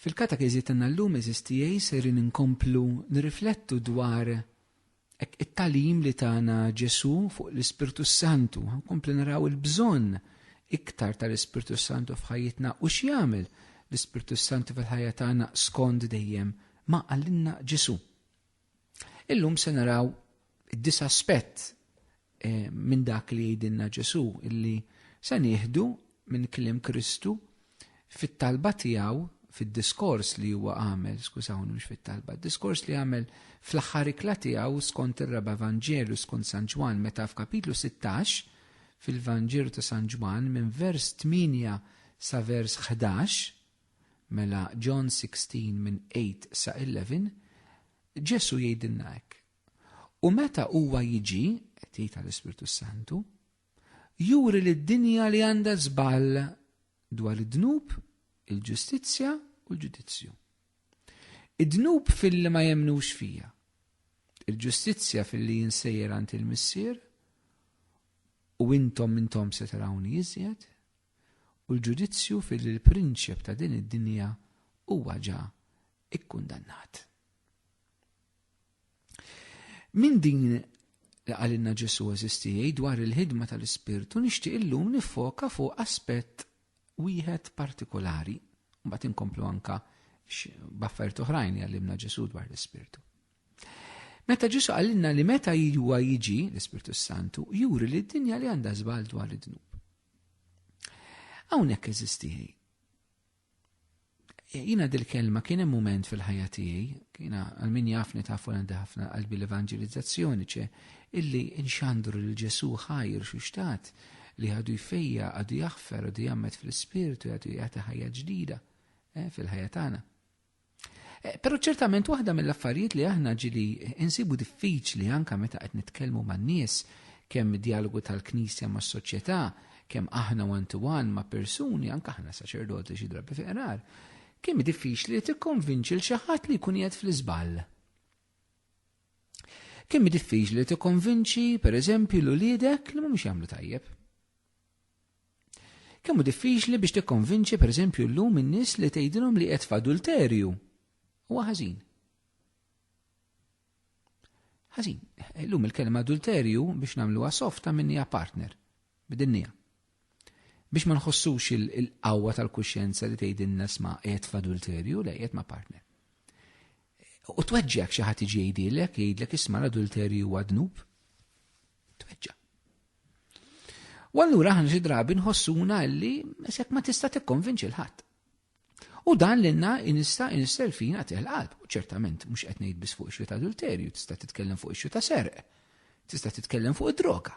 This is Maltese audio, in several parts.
Fil-katekeżi tagħna llum eżis tiegħi sejrin inkomplu nirriflettu dwar it-tagħlim li tagħna Ġesù fuq l-Ispirtu s-Santu. Nkomplu naraw il-bżonn iktar tal-Ispirtu s-Santu f'ħajjitna u x'jagħmel l-Ispirtu s-Santu fil-ħajja tagħna skond dejjem ma qalilna Ġesù. Illum se naraw dis aspett eh, minn dak li jgħidilna Ġesu illi se nieħdu minn kliem Kristu fit-talba tiegħu fid-diskors li huwa għamel, skużawni mhux fit-talba, diskors li għamel fl-aħħar ikla tiegħu skont ir-raba' Vanġelu skont San Ġwan meta f'kapitlu 16 fil-Vanġelu ta' San Ġwan minn vers 8 sa vers 11 Mela John 16 minn 8 sa 11, Ġesù jgħidilna hekk, U meta huwa jiġi, qed jgħid għall-Ispirtu s-Santu, juri lid-dinja li għandha żball dwar id-dnub, il-ġustizzja u l-ġudizzju. Id-dnub fil-li ma jemnux fija, il-ġustizzja fil-li jinsejjer għand il-missier, u intom intom se tarawni iżjed, u l-ġudizzju fi li l-prinċep ta' din id-dinja huwa ġa ikkundannat. Minn din li qalilna Ġesu eżistijej dwar il-ħidma tal-Ispirtu nixtieq illum nifoka fuq aspett wieħed partikolari, mbagħad inkomplu anka b'affarijiet oħrajn li għallimna Ġesu dwar l-Ispirtu. Meta Ġesu qalilna li meta huwa jiġi l-Ispirtu Santu, juri li d-dinja li għandha żball dwar id-dnub. Hawnhekk eżiz tiegħi. Jiena dil-kelma kien hemm mument fil-ħajja tiegħi, jiena għal min jafni tafu għandi ħafna qalbi l-evanġelizzazzjoni ċe illi nxandru lil Ġesu ħajr xi xtat li għadu jfejja, għadu jaħfer, għadu jammet fl-ispirtu, għadu jagħti ħajja ġdida eh, fil-ħajja tagħna. Eh, Pero ċertament waħda mill-affarijiet li aħna ġili insibu diffiċli anka meta qed nitkellmu man-nies kemm dialogu tal-Knisja ma' soċjetà, kemm aħna one to one ma' persuni, anka aħna saċerdoti xi drabi fiqrar, kemm diffiċli li tikkonvinċi l xi ħadd li jkun qiegħed fl-iżball. Kemm diffiċli li tikkonvinċi pereżempju l uliedek li mhumiex jagħmlu tajjeb. Kemm hu diffiċli biex tikkonvinċi pereżempju llum in-nies li tgħidilhom li qed f'adulterju huwa ħażin. Ħażin, illum il-kelma adulterju biex nagħmluha soft ta' minnija partner, bidinnija. Biex ma nħossux il-qawwa tal-kuxjenza li tgħidilna sma' qed f'adulterju le qed ma' partner. U tweġġek xi ħadd iġi jgħidilek, jgħidlek isma' l-adulterju huwa dnub. Tweġġa. U allura aħna xi drabi nħossuna li mesek ma tista' tikkonvinċi l-ħadd. U dan l-inna inista inisser fina teħ l-qalb. U ċertament mhux qed ngħid biss fuq ixju ta' adulterju, tista' titkellem fuq ixju ta' serq, tista' titkellem fuq id-droga.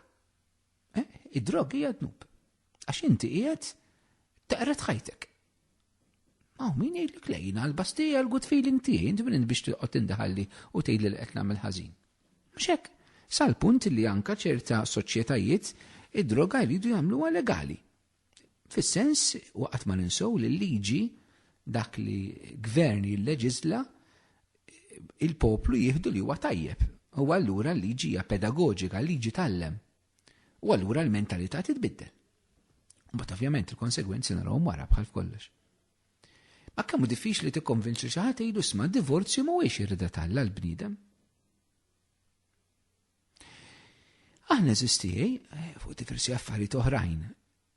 Eh, id-droga hija dnub. Għax inti qiegħed taqret ħajtek. Aw, min jgħidlek lejna, l-bastija l-good feeling tiegħi, int minn biex tiqgħod tindaħalli u tgħid li qed nagħmel ħażin. Mhux hekk? Sal-punt li anka ċerta soċjetajiet id-droga jridu jagħmluha legali. Fis-sens waqgħet ma ninsew li l-liġi dak li gvern jilleġisla il-poplu jieħdu li huwa tajjeb. U allura l-liġi hija pedagoġika, l-liġi tallem. U allura l-mentalità titbiddel. Mbagħad ovvjament il-konsegwenzi narahom wara bħal f'kollox. Ma kemm hu diffiċli tikkonvinċi xi ħadd jgħidu sma' divorzju mhuwiex irrida talla l-bniedem. Aħna eżistijaj eh, fuq diversi affarijiet oħrajn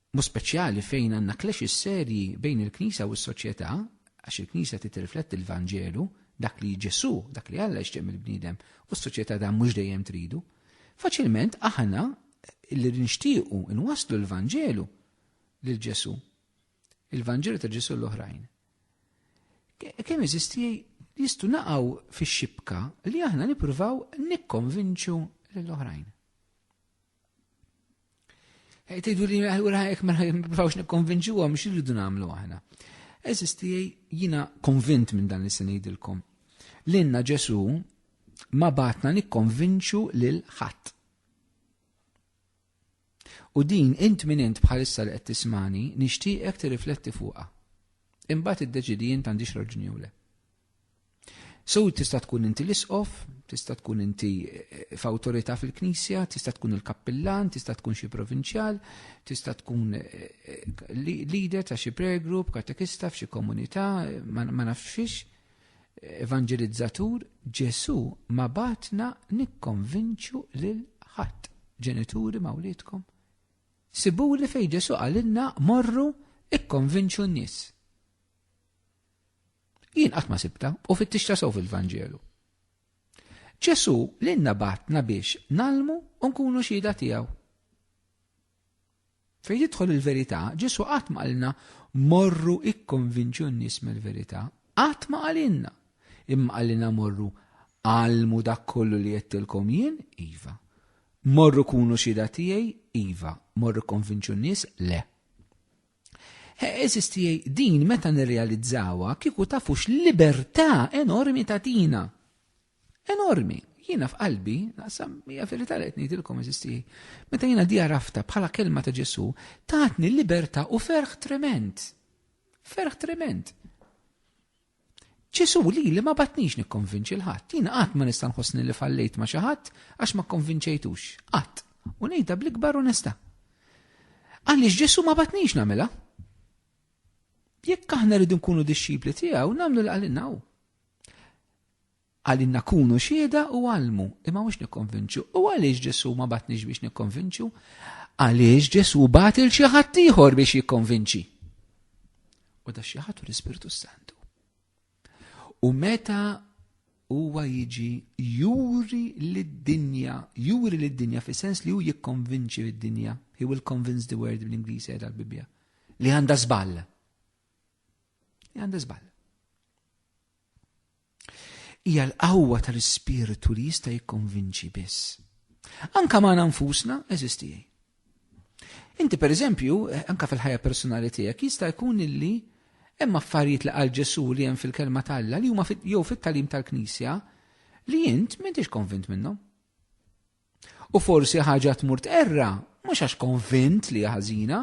b'mod speċjali fejn għandna clashes serji bejn il-Knisja u s-soċjetà, għax il-Knisja trid tirrifletti l-Vanġelu, dak li Ġesù, dak li Alla jixtieq mill-bniedem, u s-soċjetà dan mhux dejjem tridu. Faċilment aħna li nixtiequ nwasslu l-Vanġelu lil Ġesù, il-Vanġelu ta' Ġesù l-oħrajn. Kemm eżisti jistu naqaw fix-xibka li aħna nippruvaw nikkonvinċu lill-oħrajn. Tejdu li għura jek ma niprovawx nikkonvinċu għom xirridu namlu għahna. Eżisti jina konvint minn dan li se ngħidilkom. L-inna Ġesu ma batna nikkonvinċu lil ħadd. U din int minn int bħalissa li qed tismani nixtieqek tirrifletti fuqha. Imbagħad iddeċidi int għandix raġuni le. So tista' tkun inti l-isqof, tista' tkun inti eh, f'awtorità fil-knisja, tista' tkun il-kappillan, tista' tkun xi provinċjal, tista' tkun eh, eh, leader ta' xi prayer group, katekista f'xi komunità, ma nafx fiex, evangelizzatur, Ġesu ma batna nikkonvinċu lil ħadd. Ġenituri ma' wliedkom. Sibu li fej Ġesu għalilna morru ikkonvinċu n-nies. Jien qatt ma sibta u fittixta sew fil-Vanġelu. Ġesu l-inna batna biex nalmu u nkunu xhieda tiegħu. Fejn jidħol il-verità, Ġesu qatt ma qalilna morru ikkonvinċu n-nies mill-verità, qatt ma qalilna. Imma qalilna morru għalmu dak kollu li jettilkom jien, iva. Morru kunu xhieda tiegħi, iva. Morru konvinċu n-nies, le. Eżis tiegħi din meta nirrealizzawa kieku tafux libertà enormi ta' tina. Enormi. Jiena f'qalbi, naqsam hija verità li qed ngħidilkom eżis tiegħi. Meta jiena di għarafta bħala kelma ta' Ġesu, tatni libertà u ferħ trement. Ferħ trement. Ġesù lili ma bagħatnix nikkonvinċi 'l ħadd. Jien qatt ma nista' nħossni li fallejt ma' xi ħadd għax ma kkonvinċejtux. Qatt. U ngħidha bl-ikbar onestà. Għaliex Ġesù ma bagħatnix nagħmilha. Jekk aħna rridu nkunu dixxipli tiegħu, nagħmlu li qalilna hu. Għalina kunu xhieda u għallmu, imma mhux nikkonvinċu. U għaliex Ġesù ma bagħatniex biex nikkonvinċu? Għaliex Ġesù bagħat il xi ħadd ieħor biex jikkonvinċi. U da xi ħadd l-Ispirtu Santu. U meta huwa jiġi juri lid-dinja, juri lid-dinja fi sens li hu jikkonvinċi lid-dinja. He will convince the world bl-Ingliż qiegħda l-Bibbja. Li għandha żball. Li għandha żball. Hija l-qawwa tal-Ispirtu li jista' jikkonvinċi biss. Anka magħna nfusna, eżisti tiegħi. Inti per eżempju, eh, anka fil-ħajja personali tiegħek jista' jkun illi hemm affarijiet li qal Ġesu li hemm fil-kelma tal-Alla li huma jew fit-talim tal-Knisja li int m'intix konvint minnhom. U forsi ħaġa tmur tqerra, mhux għax konvint li hija ħażina,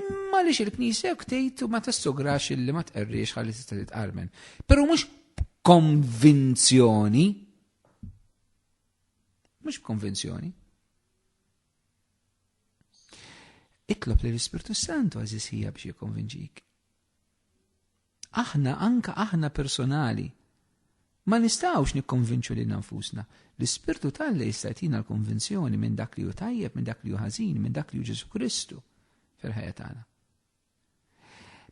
imma għaliex il-Knisja hekk tgħid u ma tassugrax illi ma tqerriex ħalli tista' titqarmen. Però mhux b'konvinzjoni. Mhux b'konvinzjoni. Itlob li l-Ispirtu Santu għażisija biex jikkonvinġik. Aħna, anke aħna personali, ma nistgħux nikkonvinċu lil nfusna. L-Ispirtu tal-Alla jista' jtina l-konvinzjoni minn dak li hu tajjeb, minn dak li hu ħażin, minn dak li hu Ġesu Kristu fil-ħajja tagħna.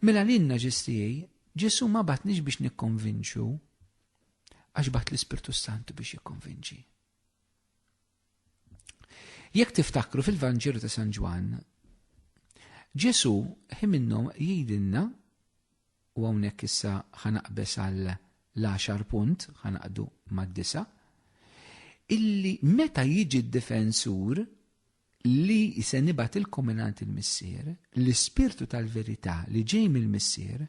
Mela l-inna ġestijaj, Ġesu ma batnix biex nikkonvinċu, għax bat l-Ispirtu Santu biex jikkonvinċi. Jekk tiftakru fil-Vanġelu ta' San Ġwann, Ġesu ħi minnhom jgħidilna u hawnhekk issa ħanaqbes għal l-10 punt ħanaqdu mad-disa illi meta jiġi d-difensur li se nibgħat il-kominant il-missier, l-ispirtu tal-verità li ġej mill-missier,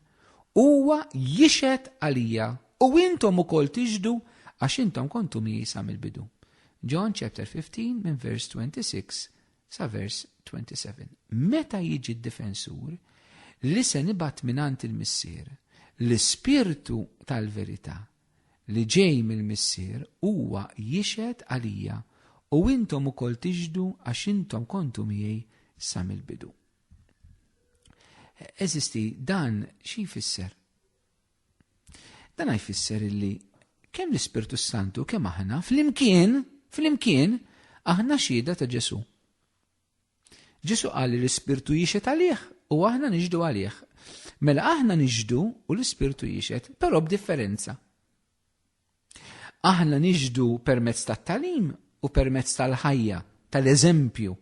huwa jixed għalija u intom ukoll tiġdu għax intom kontu miesa mill-bidu. John chapter 15 minn vers 26 sa vers 27. Meta jiġi d-difensur li se nibgħat mingħand il-Missier, l-Ispirtu tal-verità li ġej mill-Missier huwa jixhed għalija u intom ukoll tixhdu għax intom kontu miegħi sa mill-bidu. Eżisti dan xi jfisser? Dan jfisser illi kemm l-Ispirtu Santu kemm aħna flimkien, flimkien aħna xhieda ta' Ġesu. Ġesu qal li l-Ispirtu jixed għalih u aħna niġdu għalih. Mela aħna niġdu u l-Ispirtu jixed, però b'differenza. Aħna nixhdu permezz tat-tagħlim u permezz tal-ħajja, tal-eżempju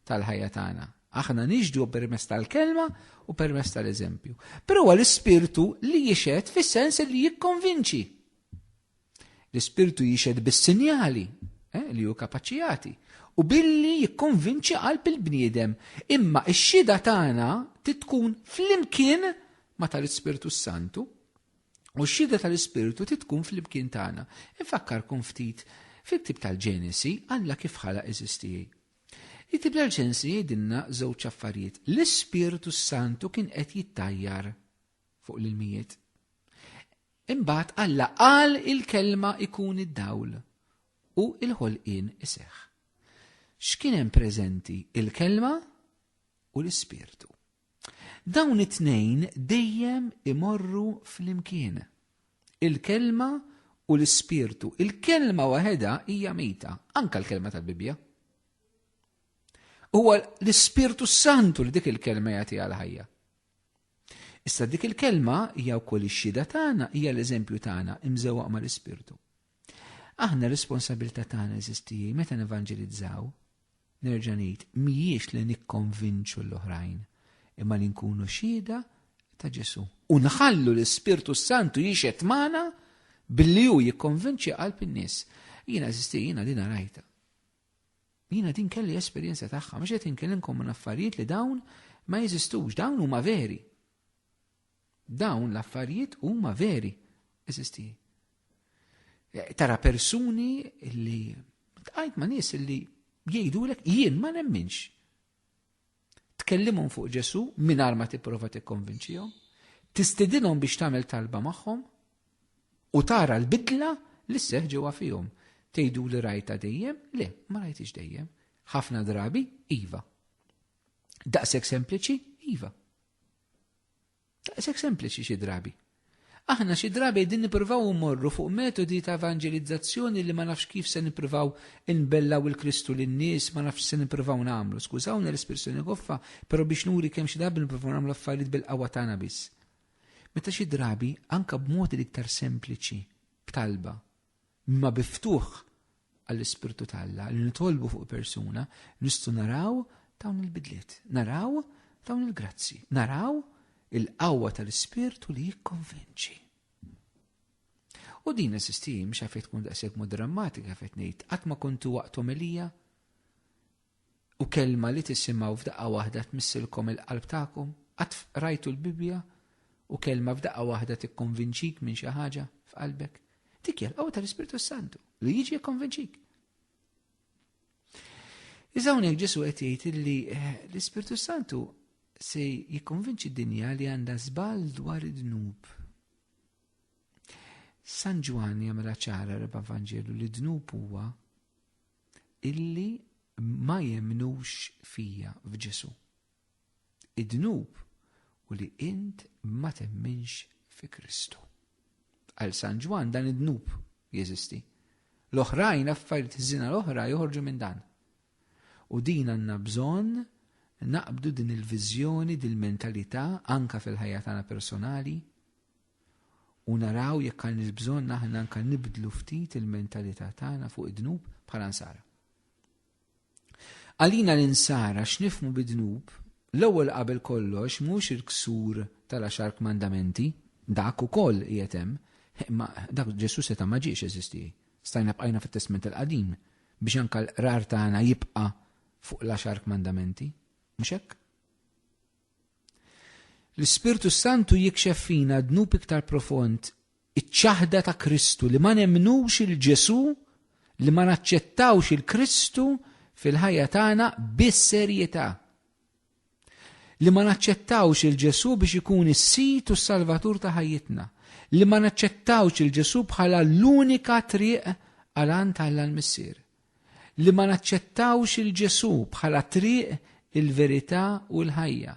tal-ħajja tagħna. Aħna nixhdu permezz tal-kelma u permezz tal-eżempju. Però huwa l-ispirtu li jixed fis-sens li jikkonvinċi. L-ispirtu jixed bis-sinjali eh, li hu kapaċijati u billi jikkonvinċi qalb il-bniedem. Imma x-xida tagħna titkun flimkien ma tal-Ispirtu Santu U x-xhieda tal-Ispirtu trid tkun flimkien tagħna. Infakkarkom ftit fit-tip tal-Ġenesi Alla kif ħalaq eżistijie. It-tip tal-Ġenesi jgħidilna żewġ affarijiet. L-Ispirtu s-Santu kien qed jittajjar fuq l-ilmijiet. Imbagħad Alla qal il-kelma ikun id-dawl u il-ħolqien iseħħ. X'kien hemm preżenti il-kelma u l-ispirtu. Dawn it-tnejn dejjem imorru flimkien. Il-Kelma u l-Ispirtu. Il-Kelma waħedha hija mejta, anke l-Kelma tal-Bibbja. Huwa l-Ispirtu Santu li dik il-Kelma jagħtiha l-ħajja. Issa dik il-kelma hija wkoll ix-xhieda tagħna, hija l-eżempju tagħna imżewwaq mal-Ispirtu. Aħna r-responsabilità tagħna eżistiji meta nevanġelizzaw, nerġa' ngħid, mhijiex li nikkonvinċu l-oħrajn, imma li nkunu xhieda ta' Ġesù. U nħallu l-Ispirtu Santu jixed magħna billi hu jikkonvinċi qalb in-nies. Jiena eżisti jiena din rajta. Jiena din kelli esperjenza tagħha, mhux qed inkellimkom minn affarijiet li dawn ma jeżistux, dawn huma veri. Dawn l-affarijiet huma veri, eżisti tiegħi. Eh, tara persuni li tqajt ma' nies li jgħidulek jien ma nemminx. Tkellimhom fuq Ġesu mingħajr ma tipprova tikkonvinċihom, tistidinhom biex tagħmel talba magħhom u tara l-bidla li seħ ġewwa fihom. Tgħidu li rajta dejjem? Le, ma rajtix dejjem. Ħafna drabi iva. Daqs sempliċi iva. Daqshekk sempliċi xi drabi. Aħna xi drabi din nippruvaw immorru fuq metodi ta' evanġelizzazzjoni li ma nafx kif se nippruvaw inbellaw il-Kristu lin-nies, ma nafx se nippruvaw nagħmlu. Skużawni l-espressjoni goffa, però biex nuri kemm xi drabi nippruvaw nagħmlu affarijiet bil-qawwa tagħna biss. Meta xi drabi anke b'mod l-iktar sempliċi, b'talba, Imma bi ftuħ għall-Ispirtu ta' Alla li nitolbu fuq persuna nistgħu naraw dawn il-bidliet, naraw dawn il-grazzi, naraw il-qawwa tal-Ispirtu li jikkonvinċi. U din is-sistim xafet tkun daqshekk mod drammatika fejn ngħid qatt ma kontu waqt omelija u kelma li tisimgħu f'daqqa waħda tmissilkom il-qalb tagħkom? Qatt qrajtu l-Bibbja u kelma f'daqqa waħda tikkonvinċik minn xi ħaġa f'qalbek? Dik hija l-qawwa tal-Ispirtu Santu li jiġi jikkonvinċik. Iżda hawnhekk Ġesu qed jgħid li eh, l-Ispirtu Santu se jikkonvinċi d-dinja li għandha żball dwar id-dnub. San Ġwanni jagħmilha ċara reba' Vanġelu li dnub huwa illi ma jemnux fija f'Ġesu. Id-dnub u li int ma temminx fi Kristu. Għal San Ġwan dan id-dnub jeżisti. L-oħrajn affarijiet żina l-oħra joħorġu minn dan. U din għandna bżonn naqbdu din il-viżjoni, din il-mentalità anka fil-ħajja tagħna personali, u naraw jekk għandniex bżonn aħna anke nibdlu ftit il-mentalità tagħna fuq id-dnub bħala nsara. Għalina l-insara x'nifmu bid-dnub l-ewwel qabel kollox mhux il-ksur tal-għaxar kmandamenti, dak ukoll qiegħed hemm, imma dak Ġesu seta' ma ġiex eżisti. Stajna bqajna fit-Testment il-Qadim biex anke l-qrar tagħna jibqa' fuq l-għaxar kmandamenti, mhux hekk? L-Ispirtu s-Santu jikxef fina dnub iktar profond, iċ-ċaħda ta' Kristu li ma nemmnux il-Ġesu, li ma naċċettawx il-Kristu fil-ħajja tagħna bis-serjetà. Li ma naċċettawx il-Ġesu biex ikun is-sid u s-salvatur ta' ħajjitna. Li ma naċċettawx il-Ġesu bħala l-unika triq għal għan tal-missier. li ma naċċettawx 'il Ġesù bħala t-triq, il-verità u l-ħajja,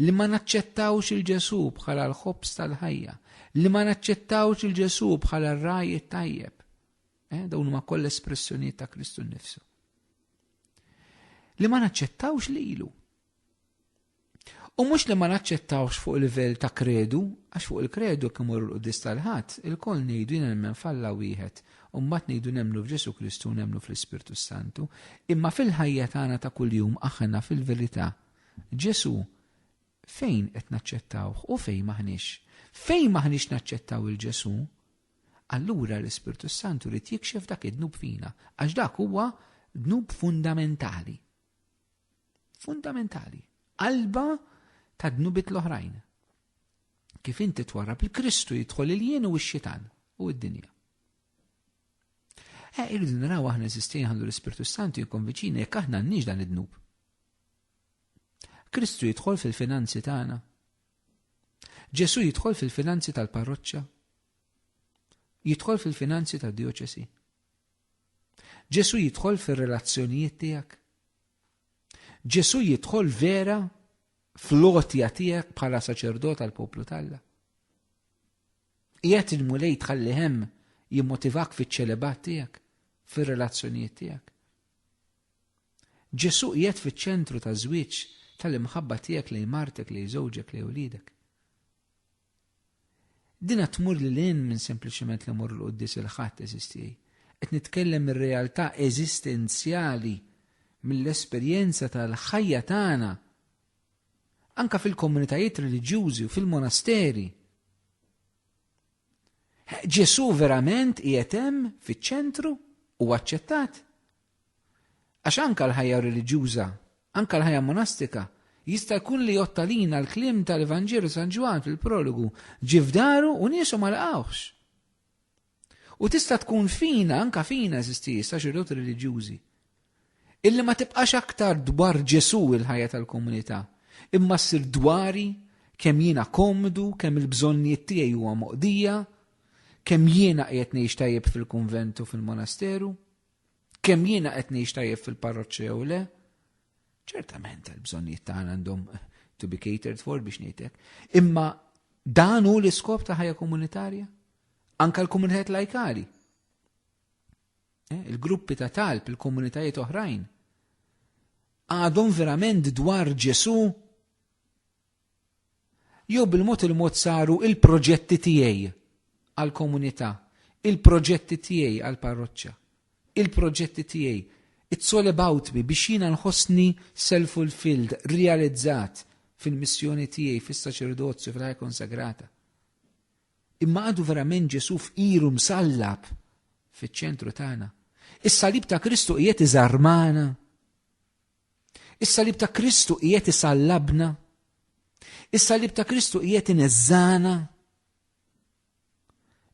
li ma naċċettawx 'il Ġesù bħala l-ħobż tal-ħajja, li ma naċċettawx 'il Ġesù bħala r-ragħaj it-tajjeb. Eh, dawn huma kollha espressjonijiet ta' Kristu nnifsu. Li ma naċċettawx lilu. U mhux li ma naċċettawx fuq livell ta' kredu, għax fuq il-kredu kemm imur l-quddis tal-ħadd, il-koll ngħidu nemmen f'Alla wieħed, u mbagħad ngħidu nemmnu f'Ġesu Kristu u nemmnu fl-Ispirtu Santu, imma fil-ħajja tagħna ta' kuljum aħna fil-verità Ġesu fejn qed naċċettawh u fejn maħniex. Fejn maħniex naċċettaw il-Ġesu, allura l-Ispirtu Santu li jikxef dak id-dnub fina, għax dak huwa dnub fundamentali. Fundamentali. Qalba ta' dnubit l-oħrajn. Kif inti twarrab il-Kristu jidħol il-jien u x-xitan u id-dinja. Eh, irridu naraw aħna eżistin għandu l-Ispirtu Santu jikkonviċina jekk aħna għandniex dan id-dnub. Kristu jidħol fil-finanzi tagħna. Ġesu jidħol fil-finanzi tal-parroċċa. Jidħol fil-finanzi tad-dioċesi. Ġesù jidħol fir-relazzjonijiet tiegħek? Ġesù jidħol vera fl-għotja tiegħek bħala saċerdot għall poplu talla? Qiegħed il-mulej tħalli hemm jimmotivak fiċ-ċelebat tiegħek, fir-relazzjonijiet tiegħek. Ġesù qiegħed fiċ-ċentru taż-żwieġ tal-imħabba tiegħek lejn martek, lejn żewġek, lejn ulidek. Dinha tmur lil hinn minn sempliċement li mmorru l-quddies il-Ħadd, għeżież tiegħi. Qed nitkellem mir-realtà eżistenzjali, mill-esperjenza tal-ħajja tagħna, anke fil-komunitajiet reliġjużi u fil-monasteri. Ġesù verament qiegħed hemm fiċ-ċentru u aċċettat? Għax anke l-ħajja reliġjuża, anke l-ħajja monastika, jista' jkun li jgħodd għalina l-kliem ta' l-Evanġelu San Ġwann fil-prologu, Ġie f'daru u niesu ma laqgħuhx. U tista' tkun fina, anke fina, eżisti, saċerdoti reliġjużi, illi ma tibqax aktar dwar Ġesu il-ħajja tal-komunità, imma ssir dwari kemm jiena komdu, kemm il-bżonnijiet tiegħi huwa moqdija, kemm jiena qiegħed ngħix tajjeb fil-kunvent u fil-monasteru. kemm jiena qed ngħix tajjeb fil-parroċċa jew le, ċertament il-bżonnijiet tagħna għandhom to be catered for biex ngħidlek. Imma dan hu l-iskop ta' ħajja komunitarja? Anka l-komunitajiet lajkali. Eh, il-gruppi ta' talb, il-komunitajiet oħrajn. Għadhom verament dwar Ġesu Jew bil-mod il-mod saru il-proġetti tiegħi għall-komunità, il-proġetti tiegħi għall-parroċċa, il-proġetti tiegħi, it's all about me biex jiena nħossni self-fulfilled, realizzat fil-missjoni tiegħi, fis-saċerdozju, fil-ħajja konsagrata. Imma għadu verament Ġesu f'iru msallab fiċ-ċentru tagħna. Is-salib ta' Kristu qiegħed iżarmana. Is-salib ta' Kristu qiegħed isallabna. Is-salib ta' Kristu qiegħed ineżżana.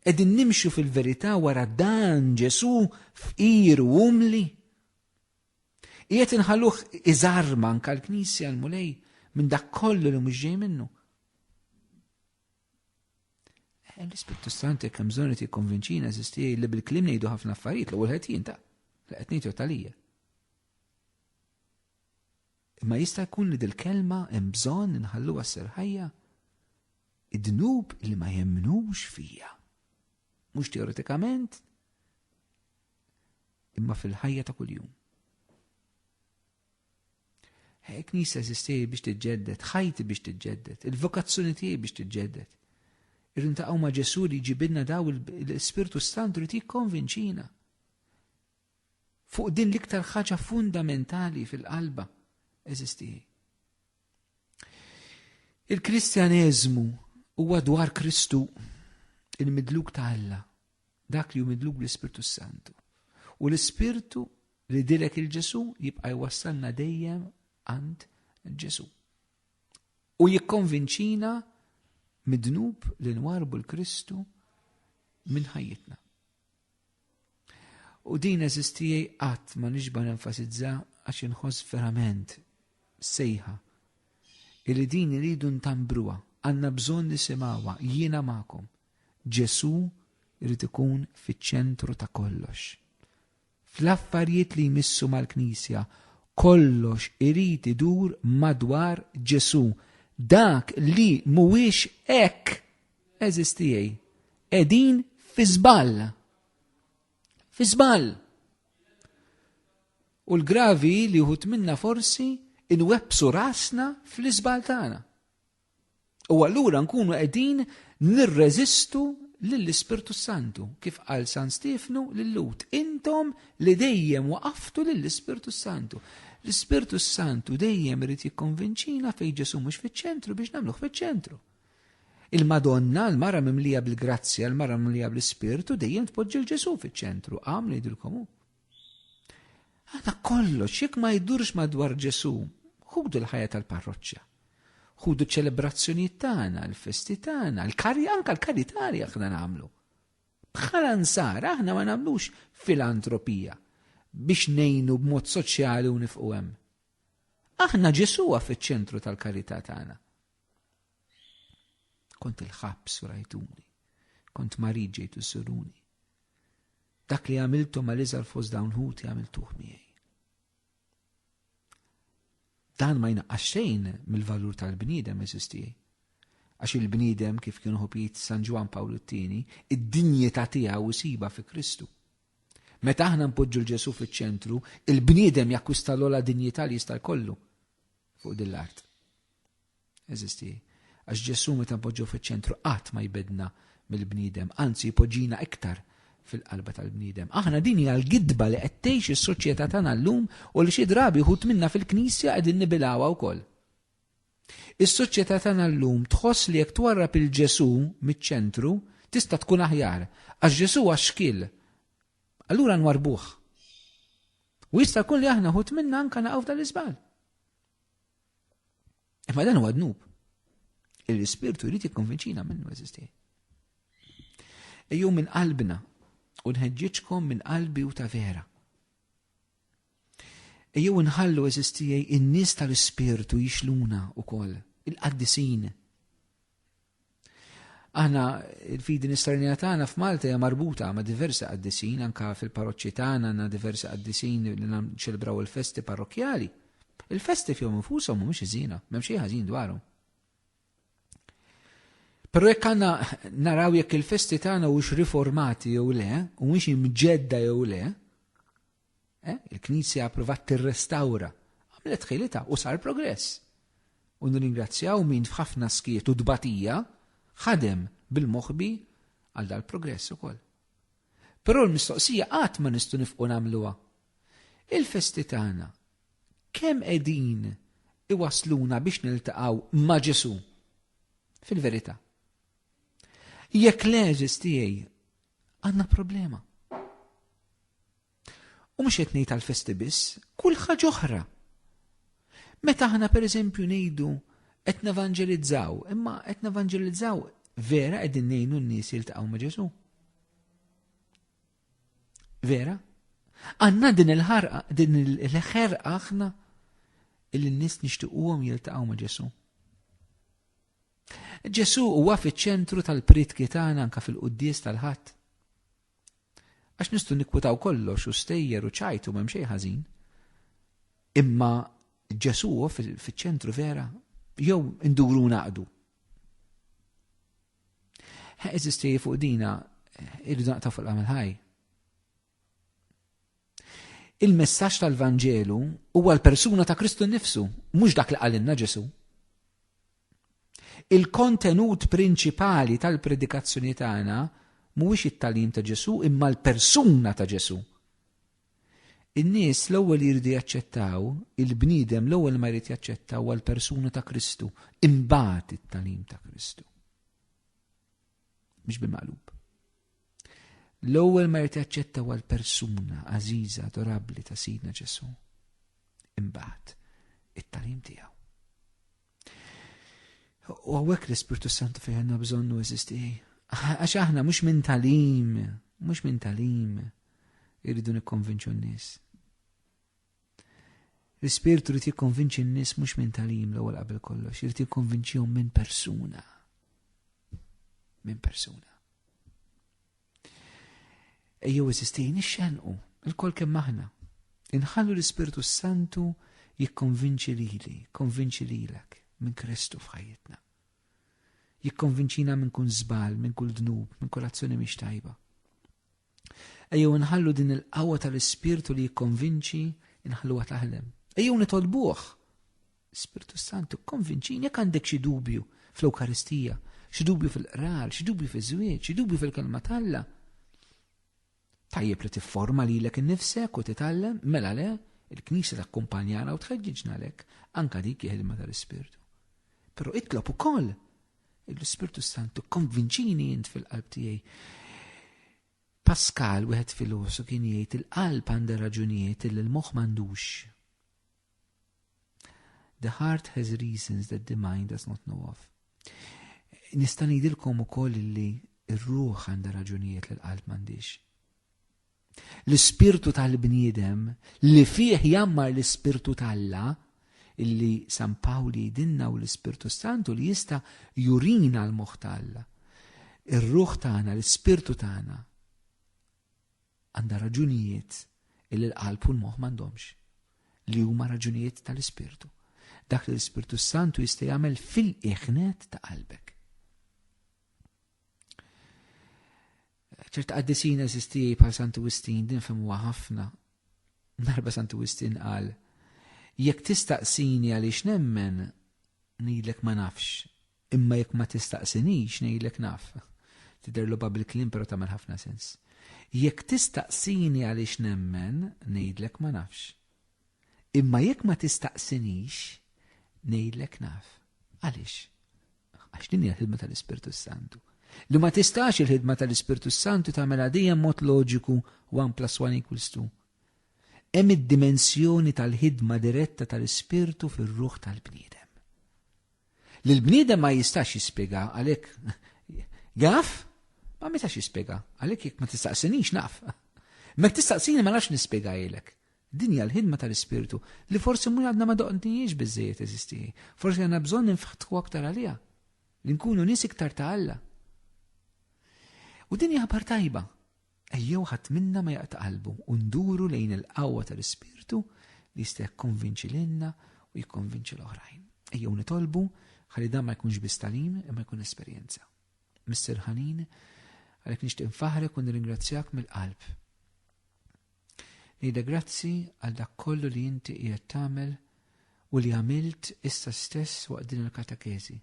Qegħdin nimxu fil-verità wara dan Ġesu fqir u umli. Qiegħed inħalluh iżarma anka l-Knisja l-Mulej minn dak kollu li mhux ġej minnu. Eh, L-Ispirtu Sant jekk hemm bżonn qed li bil-kliem ngħidu ħafna affarijiet l-ewwel ħed jinta' li qed ngħidu talija. Imma jista' jkun li dil-kelma hemm bżonn inħalluha ssir ħajja? Id-dnub li ma jemnux fija. Mhux teoretikament, imma fil-ħajja ta' kuljum. Hekk nisa eżisti biex tiġġedded, ħajti biex tiġġedded, il-vokazzjoni tiegħi biex tiġġedded. Irrid taqgħu ma' Ġesu li jġibinna daw l-Ispirtu Santu li jikkonvinċina. fuq din l-iktar ħaġa fundamentali fil-qalba, eżis tiegħi. Il-Kristjaneżmu huwa dwar Kristu il-midluk ta' Alla, dak li hu midluk bl-Ispirtu Santu. U l-Ispirtu li dilek il-Ġesu jibqa' jwassalna dejjem għand Ġesu. U jikkonvinċina midnub li nwarbu l-Kristu minn ħajjitna. U din eżistijaj qatt ma nixba nenfasizza għax inħoss verament sejħa illi din iridu ntambruha, għandna bżonn nisimgħuha jiena magħkom. Ġesu irid ikun fiċ-ċentru ta' kollox. Fl-affarijiet li jmissu mal-Knisja, kollox irid idur madwar Ġesu. Dak li mhuwiex hekk Eżis tiegħi, qegħdin fi żball. Fi żball. U l-gravi li wħud minna forsi inwebbsu rasna fl-iżball tagħna. U allura nkunu qegħdin nirreżistu lill-Ispirtu Santu, kif qal San Stefnu lill-Lut, intom li dejjem waqaftu lill-Ispirtu Santu. L-Ispirtu Santu dejjem irid jikkonvinċina fejn Ġesu mhux fiċ-ċentru biex nagħmluh fiċ-ċentru. Il-Madonna, l-Mara mimlija bil-grazzja, l-Mara mimlija bl-Ispirtu, dejjem tpoġġi l-Ġesu fiċ-ċentru, għamlu jidilkom hu. Għada kollox, jekk ma jdurx madwar Ġesu, ħudu l-ħajja tal-parroċċa. Ħudu ċelebrazzjonijiet tagħna, l-festi tagħna, l-kari anka l-karitari aħna nagħmlu. Bħala nsar aħna ma nagħmlux filantropija biex nejnu b'mod soċjali u nifqu hemm. Aħna Ġesuwa fiċ-ċentru tal-karità tagħna. Kont il-ħabs u rajtuni, kont marid ġejtu suruni. Dak li għamiltu ma liżar fost dawn ħuti għamiltuh miegħi. Dan ma jnaqqax xejn mill-valur tal-bniedem eżistijaj. Għax il-bniedem kif kienu ħopijiet San Ġwan Pawl it-Tieni, id-dinjeta tiegħu siba fi Kristu. Meta aħna npoġġu l-Ġesu fiċ-ċentru, il-bniedem jakkwista l-ola dinjità li jista' jkollu fuq din l-art. Eżisti. Għax Ġesu meta npoġġu fiċ-ċentru qatt ma jbidna mill-bniedem, anzi jpoġġina iktar fil-qalba tal-bniedem. Aħna din hija l-gidba li qed tgħix is-soċjetà tagħna llum u li xi drabi ħut minna fil-Knisja qegħdin nibilgħuha wkoll. Is-soċjetà tagħna llum tħoss li jekk twarrab il-Ġesu miċ-ċentru tista' tkun aħjar għax Ġesu għax xkil. Allura nwarbuh. U jista' jkun li aħna ħut minna anka naqgħu tal-iżbal. Imma dan huwa dnub. Il-Ispirtu jrid jikkonvinċina minnu eżisti. Ejju minn qalbna u nħeġġiġkom minn qalbi u ta' vera. Ejju nħallu eżistijaj in-nies tal-Ispirtu jixluna u koll, il-qaddisin. Aħna il-fidi nisternija tagħna f'Malta hija marbuta ma' diversi qaddisin, anka fil-paroċċi tagħna għandna diversi qaddisin li nċelebraw il-festi parrokkjali. Il-festi fihom infushom mhumiex iżina, m'hemm xi ħażin dwarhom. Però jekk għandna naraw jekk il-festi tagħna hux riformati jew le, u mhux imġedda jew le, Eh? Il-Knisja approvat tirrestawra, għamlet ħilita u sar progress. U nirringrazzjaw min f'ħafna skiet u dbatija ħadem bil-moħbi għal dal-progress ukoll. Però l-mistoqsija qatt ma nistgħu nifqu nagħmluha. Il-festi tagħna kemm qegħdin iwasluna biex niltaqgħu ma' Ġesu? Fil-verità. Jekk l-eżis tiegħi Għandna problema. U mhux qed ngħid għall-festi biss, kull ħaġa oħra. Meta aħna pereżempju ngħidu qed nevanġelizzaw, imma qed nevanġelizzaw vera qegħdin ngħinu n-nies jiltaqgħu ma' Ġesu. Vera? Għanna din il-ħarqa, din il-ħerqa aħna il-nis nishtiquhom jiltaqgħu ma' Ġesu. Ġesù huwa fiċ-ċentru tal-pritki tagħna anke fil-quddies tal-Ħadd. Għax nistgħu nikkwitaw kollox u stejjer u ċajtu m'hemm xejn ħażin. Imma Ġesù huwa fiċ-ċentru vera jew induru naqdu. Eżisti fuq dina irridu naqta' fuq l-għamil ħaj. Il-messaġġ tal-Vanġelu huwa l-persuna ta' Kristu nnifsu, mhux dak li qalilna Ġesu. Il-kontenut prinċipali tal-predikazzjoni tagħna mhuwiex it-talim ta' Ġesu imma l-persuna ta' Ġesu. In-nies l-ewwel jridu jaċċettaw, il-bniedem l-ewwel ma jrid jaċċettaw għal persuna ta' Kristu, imbagħad it-talim ta' Kristu. mhux bil-maqlub. L-ewwel ma jrid jaċċetta għal persuna għażiża adorabbli ta' Sidna Ġesu. Imbagħad it-talim tiegħu. U għawek l-Ispirtu Santu fejn għandna bżonnu eżisti. Għax aħna mhux minn talim, mhux minn talim irridu nikkonvinċu n-nies. L-Ispirtu rrit jikkonvinċi n-nies mhux minn talim l-ewwel qabel kollox, irid jikkonvinċihom minn persuna. Minn persuna. Ejjew eżistejn ixxenqu, il-kol kemm aħna. Inħallu l-Ispirtu Santu jikkonvinċi lili, konvinċi lilek minn Kristu f'ħajjitna. Jikkonvinċina minn kun żbal, minn kull dnub, minn kull azzjoni mhix tajba. Ejjew inħallu din il-qawwa tal-Ispirtu li jikkonvinċi inħalluha taħdem. Ejjew nitolbuh. Spirtu Santu, konvinċini jekk għandek xi dubju fl-Ewkaristija, xi dubju fil-qrar, xi dubju fiż-żwieġ, xi dubju fil-kelma t'Alla. Tajjeb li tifforma lilek innifsek u titgħallem, mela le, il-Knisja takkumpanjana u tħeġġiġna lek, anka dik il-ħidma tal-Ispirtu. Però itlob ukoll l-Ispirtu Santu konvinċini int fil-qalb tiegħi. Pascal wieħed filosu kien jgħid il-qalb għandha raġunijiet li l-moħħ m'għandux. The heart has reasons that the mind does not know of. Nista' ngħidilkom ukoll li r-ruħ għandha raġunijiet li l-qalb m'għandix. L-ispirtu tal-bniedem li fih jammar l-ispirtu t'Alla, illi San Pawl jgħidilna u l-Ispirtu Santu li jista' jurina l-moħħ t'Alla. Ir-ruħ tagħna, l-ispirtu tagħna għandha raġunijiet illi l-qalb u l-moħħ m'għandhomx li huma raġunijiet tal-ispirtu. Dak li l-Ispirtu Santu jista' jagħmel fil-iħnet ta' qalbek. ċert għaddisin eżisti bħal Santu Wistin din femmuha ħafna. Darba Santu Wistin qal, jekk tistaqsini għaliex nemmen, ngħidlek ma nafx, imma jekk ma tistaqsinix ngħidlek naf. Tidher loba bil-klim però tagħmel ħafna sens. Jekk tistaqsini għaliex nemmen, ngħidlek ma nafx, Imma jekk ma tistaqsinix, ngħidlek naf. Għaliex? Għax din hija l-ħidma tal-Ispirtu s-Santu. Li ma tistax il-ħidma tal-Ispirtu s-Santu tagħmilha dejjem mod loġiku one plus one equals two. Hemm id-dimensjoni tal-ħidma diretta tal-Ispirtu fir-ruħ tal-bniedem. Li l-bniedem ma jistax jispjega għalhekk jaf, ma metax jispjega għalhekk jekk ma tistaqsinix naf. Mek tistaqsini ma nafx nispjegajlek. Din hija l-ħidma tal-Ispirtu li forsi mhu għadna ma doqnihiex biżżejjed eżistieħi. Forsi għandna bżonn ninftħu aktar għaliha, li nkunu nies iktar ta' Alla. U din hija ħbar tajba. Ejjew ħadd minna ma jaqta' qalbu u nduru lejn il-qawwa tal-Ispirtu li jista' jikkonvinċi lilna u jikkonvinċi l-oħrajn. Ejjew nitolbu ħalli dan ma jkunx biss talim imma jkun esperjenza. Mister Ħanin, għalhekk nixtieq nfaħrek u nirringrazzjak mill-qalb Ngħidlek grazzi għal dak kollu li inti qiegħed tagħmel u li għamilt issa stess waqt din il-katakezi,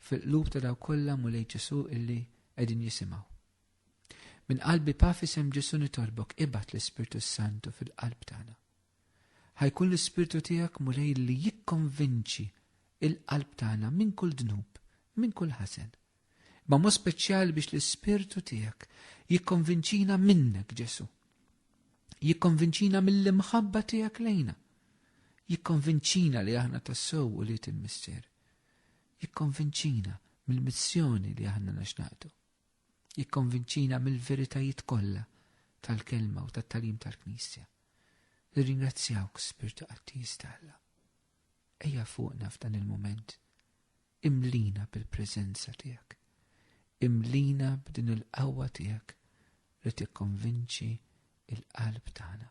fil-qlub ta' daw kollha Mulej Ġesu illi qegħdin jisimgħu. Min qalbi pa fisem Ġesu nitolbok ibat l-Ispirtu Santu fil-qalb tagħna. Ħajkun l-Ispirtu tiegħek Mulej li jikkonvinċi il-qalb tagħna minn kull dnub, minn kull ħasen, Ma mod speċjali biex l-Ispirtu tiegħek jikkonvinċina minnek Ġesu. Jikkonvinċina mill-imħabba tiegħek lejna. Jikkonvinċina li aħna tassew u li il-missier. Jikkonvinċina mill-missjoni li aħna naxnaqtu. Jikkonvinċina mill-veritajiet kollha tal-kelma u tat-talim tal-Knisja. Nirringrazzjawk, Spirtu Qattis tal-Alla. Ejja fuqna f'dan il-moment Imlina bil-preżenza tiegħek. Imlina b'din il-qawwa tiegħek li tikkonvinċi l-qalb tagħna.